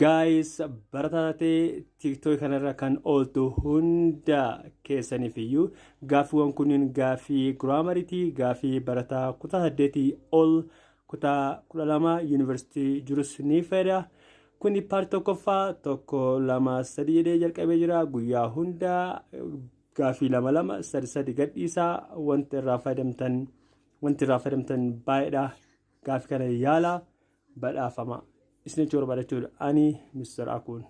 Gaayis barataa taatee tiiktookii kanarra kan ooltu hunda keessaniif iyyuu gaaffiiwwan kunniin gaaffii giraamariitii gaaffii barataa kutaa saddeetii ol kutaa kudha lama yuunivarsiitii jirus ni fayyada. Kuni paartii tokkoffaa tokko lama sadii jedhee jalqabee jira guyyaa hunda Gaafii lama lama sadi sadi gadhiisaa wanti irraa fayyadamtan wanti irraa fayyadamtan baay'eedha. Gaafii kana yaala badhaafama. Isinitti yoo barbaadan ani Mr. Akuun.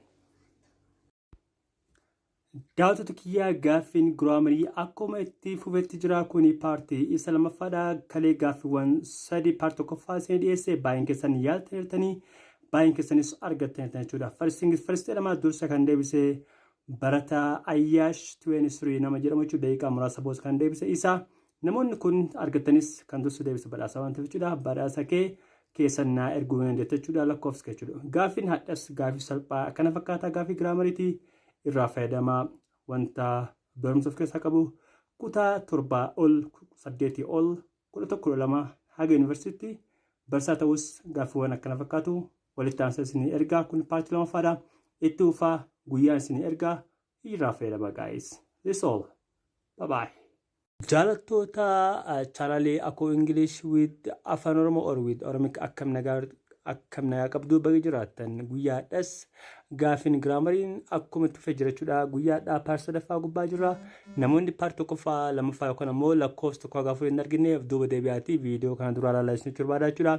Daawwattoota kiyyaa gaaffiin giraamarii akkuma itti fufetti jira kuni paartii isa lammaffaadha kalee gaaffiiwwan sadi paartii tokkoffaa isinii dhiyeesse baay'een keessan yaaltaniirtanii baay'een keessanis argattaniirtan jechuudha. First things first jedhama dursa kan deebise Barataa Ayyaash 23 nama jedhamu jechuudha daqiiqaa muraasa boos kan deebise isa. Namoonni kun argattanis kan dursu deebisa badhaasa waan ta'eef jechuudha. Badhaasa kee keessan naa erguu hin jette jechuudha lakkoofsa kee jechuudha. Gaaffiin hadhas gaaffii salphaa akkana fakkaataa gaaffii giraamariiti irraa fayyadamaa wanta barumsa of keessaa qabu kutaa torbaa ol saddeetii ol kudha tokko kudha lama haga yuunivarsiitti barsaa ta'us gaaffiiwwan akkana fakkaatu walitti aansa isinii ergaa kun paartii lamaffaadha itti uufaa guyyaan isinii ergaa hijraa fayyadama gaa'is this all bye bye Jaalattoota chaanalii Akoo English with Afaan Oromoo or with Oromic akkam nagaa Akkam nagaa qabduu baga jiraattan guyyaa hadhas gaafin giraamariin akkuma itti fufee jirachuudha guyyaa hadhaa paart sadaffaa gubbaa jirra namoonni paart tokkoffaa lammaffaa yookaan ammoo lakkoofsa tokko haga afurii hin argine of duuba deebi'aatii viidiyoo kana duraa ilaalaa isinitti barbaada jechuudha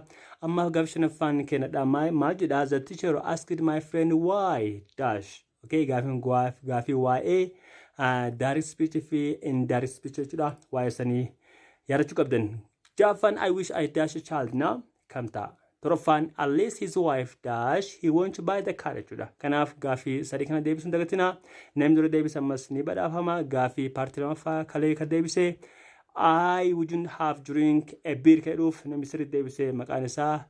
ammaaf gaafi shanaffaan keenyadha maal jedha the teacher asked my friend why dash Okay, gaafiin gaaf- gaafii waa'ee direct speech fi indirect speech jechuudha. Waa'ee sanii yaadachuu qabdan. Jaaffaan I wish I dash a child now kam ta'a? Torbaffaan unless his wife dash he won't buy the car jechuudha. Kanaaf gaafii sadii kana deebisuun dagatina. Namni dura deebise ammas ni badhaafama. Gaafii paartii lamaffaa kalee kan deebise I wouldn't have drink a beer kan jedhuuf namni sirriitti deebise maqaan isaa